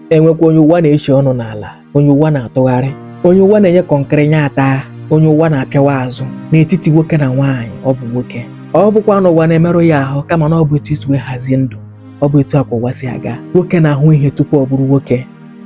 e nwekwa onye ụwa na-echi ọnụ n'ala onye ụwa na-atụgharị onye ụwa na-enye kọnkịrị nya ataa onye ụwa na-apịawa azụ n'etiti nwoke na nwaanyị ọ bụ nwoke ọ bụkwa na ụwa na-emerụ ya ahụ kama na ọ bụ etu e si wee hazie ndụ ọ bụ etu akwa ụwa si aga nwoke na-ahụ ihe tupu ọ bụrụ nwoke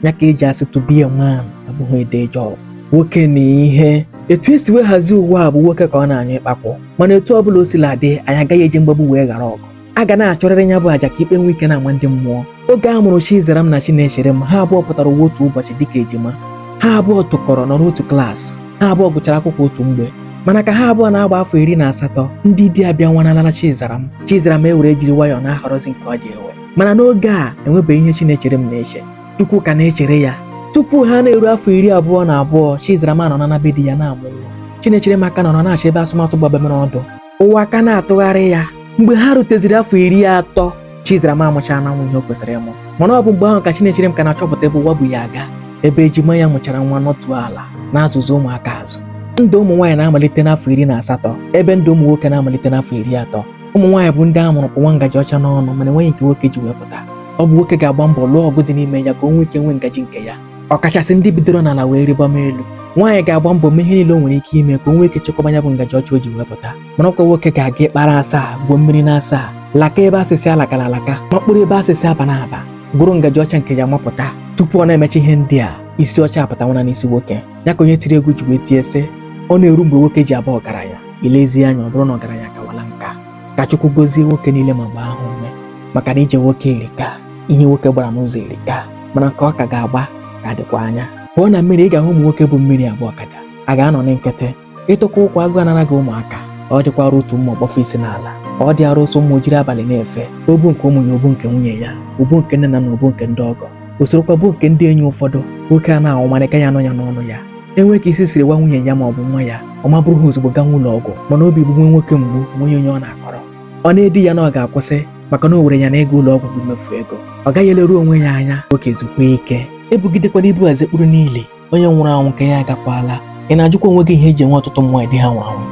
ya ka e ji asị to be a man abụghị a day job nwoke na ihe etu e si wee hazie ụwa a bụ nwoke ka ọ na-anyụ ịkpakwụ mana etu ọ bụla o sila dị anyị agaghị eji mgbagbu wee ghara ọgụ a ga na-achụrịrị ya bụ aja ka ikpe nwee ike na-ama ndị mmụọ oge a mụrụ Chizaram na Chinecherem ha abụọ pụtara ụwa otu ụbọchị dịka ejima ha abụọ tụkọrọ nọ n'otu klaasị ha abụọ gụchara akwụkwọ otu mgbe mana ka ha abụọ na-agba afọ iri na asatọ ndị di abịanwanala Chizaram Chizaram ewere jiri nwayọọ na-ahọrọzi nke ọ ji ewe mana n'oge a enwebeghị ihe Chinecherem na-eche Chukwu ka na-echere ya tupu ha na-eru afọ iri abụọ na abụọ Chizaram anọ na be di ya na-amụ nwa Chinecherem aka nọrọ na-achọ ebe asụmatụ gbabamere ọdụ ụwa aka na-atụgharị ya mgbe ha ruteziri afọ iri atọ Chizaram amụchaana nwa ihe o kwesịrị ịmụ mana ọ bụ mgbe ahụ ka Chinecherem ka na-achọpụta ebe ụwa bu ya aga ebe ejima ya mụchara nwa nọtụ ala na-azụzi ụmụaka azụ ndụ ụmụ nwaanyị na-amalite n'afọ iri na asatọ ebe ndụ ụmụ nwoke na-amalite n'afọ iri atọ ụmụ nwaanyị bụ ndị a mụrụ kpụwa ngaji ọcha n'ọnụ mana enweghị nke nwoke ji wee pụta ọ bụ nwoke ga-agba mbọ lụọ ọgụ dị n'ime ya ka o nwee ike nwee ngaji nke ya ọkachasị ndị bidoro n'ala wee rịbama elu nwaanyị ga-agba mbọ mee ihe niile o nwere ike ime ka o nwee ike chekwaba ya bụ ngaji ọcha o ji wee pụta mana ọkwa nwoke ga-aga ikpa na asaa gwuo mmiri na asaa laka ebe a sị sị alakala alaka makpuru ebe a sị sị abana aba gụrụ ngaji ọcha nke ya mapụta tupu ọ na-emecha ihe ndị a isi ọcha apụtanwana n'isi nwoke ya ka onye tiri egwu ji wee tie sị ọ na-eru mgbe nwoke ji aba ọgaranya i lezie anya ọ bụrụ na ọgaranya kawala nka ka Chukwu gozie nwoke niile ma gbaa ha ume maka na ije nwoke erika ihe nwoke gbara n'ụzọ erika mana nke ọ ka ga-agba ka dịkwa anya pụọ na mmiri ị ga-ahụ ụmụ nwoke bu mmiri agba ọkada a ga-anọ na nkịtị ịtụkwa ụkwụ agụụ anara gị ụmụaka ọ dịkwara utu mma ọ kpọfe isi n'ala ọ dịara ụsụ mma o jiri abalị na-efe o bu nke ụmụ ya o bu nke nwunye ya o bu nke nne na nna o bu nke ndị ọgọ o sorokwa bu nke ndị enyi ụfọdụ nwoke a na-anwụ mana aka ya anọ ya n'ọnụ ya enwe ka isi siri waa nwunye ya ma ọ bụ nwa ya ọ maburu ha ozugbo gaa ụlọ ọgwụ mana obi gbuwe nwoke mgbu o nweghị onye ọ na-akọrọ ọ na-edi ya na ọ ga-akwụsị maka na o were ya na ịga ụlọ ọgwụ bụ mmefu ego ọ gaghị eleru onwe ya anya nwoke zukwa ike ebugidekwana ibu eze kpụrụ niile onye nwụrụ anwụ nke ya agakwala ị na-ajụkwa onwe gị ihe e ji enwe ọtụtụ ụmụ nwaanyị di ha nwụrụ anwụ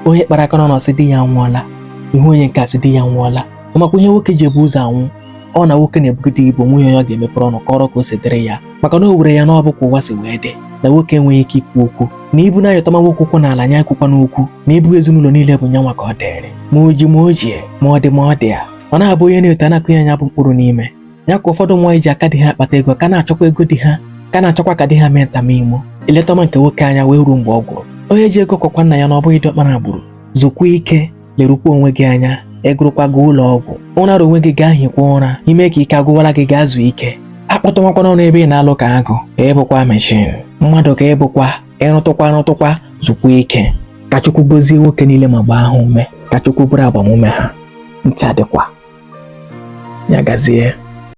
onye kpara aka n'ọnụ sị di ya nwụọla ị hụ onye nke a sị di ya nwụọla ọ makwa ihe nwoke ji ebu ụzọ anwụ ọ na nwoke na-ebugide ibu o nweghị onye ọ ga-emepere ọnụ kọrọ ka o si dịrị ya maka na o were ya na ọ bụ ka ụwa si wee dị na nwoke enweghị ike ikwu okwu na ibu na-anyịtọma nwoke ụkwụ n'ala nya ekwukwana okwu na ibu ezinụlọ niile bụ nyanwa ka ọ dịrị ma o ji ma o jighị ma ọ dị ma ọ dịghị ọ na-abụ onye na-eto a na-akụ ya nya bụ mkpụrụ n'ime ya ka ụfọdụ nwaanyị ji aka dị ha akpata ego ka na-achọkwa ego di ha ka na-achọkwa ka di ha mee nta mee imo i letọma nke nwoke anya wee ruo mgbe ọ gwụrụ onye ji ego kwakwa nna ya na ọ bụghị diọkpara gburu zukwa ike lerukwa onwe gị anya egụrụkwa gị ụlọ ọgwụ ụrara onwe gị gaa hikwa ụra i me ka ike agwụwala gị gaa zuo ike akpọtụmakwana ọrụ ebe ị na-alụ ka agụ ka ị bụkwa meshin mmadụ ka ị bụkwa ị rụtụkwa rụtụkwa zukwa ike ka Chukwu gozie nwoke niile ma gbaa ha ume ka Chukwu bụrụ agbamume ha ntị adịkwa ya gazie